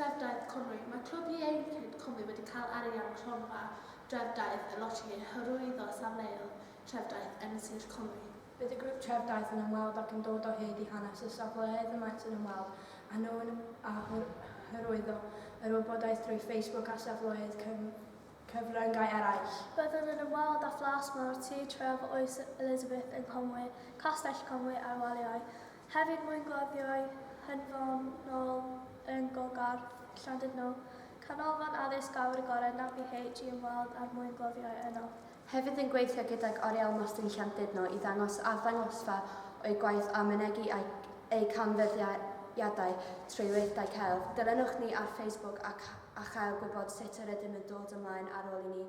Dreftaeth Cymru, mae Clwb Ieuenctid Cymru wedi cael arian o Gronfa Dreftaeth y Loteri i hyrwyddo safleoedd treftaeth yn Sir Cymru. Bydd y grŵp treftaeth yn ymweld ac yn dod o hyd i hanes y safleoedd y maent yn ymweld â nhw a hyrwyddo yr wybodaeth drwy Facebook a safleoedd cyfryngau eraill. Byddwn yn ymweld â Phlas Mawr Tŷ Tref Oes Elizabeth yng Nghonwy, Castell Conwy a'r Waliau. Hefyd mae'n gweithio ei hanfonol yn Gogarth, Llandudno, Canolfan Addysg Awyr Agored NAPH i ymweld â'r mwyngloddwyr yno. Hefyd yn gweithio gydag Oriel Mostyn Llandudno i ddangos arddangosfa o'i gwaith a mynegi a'i ei canfyddiadau trwy weithdai celf. Dilynwch ni ar Facebook ac a chael gwybod sut yr ydym yn dod ymlaen ar ôl i ni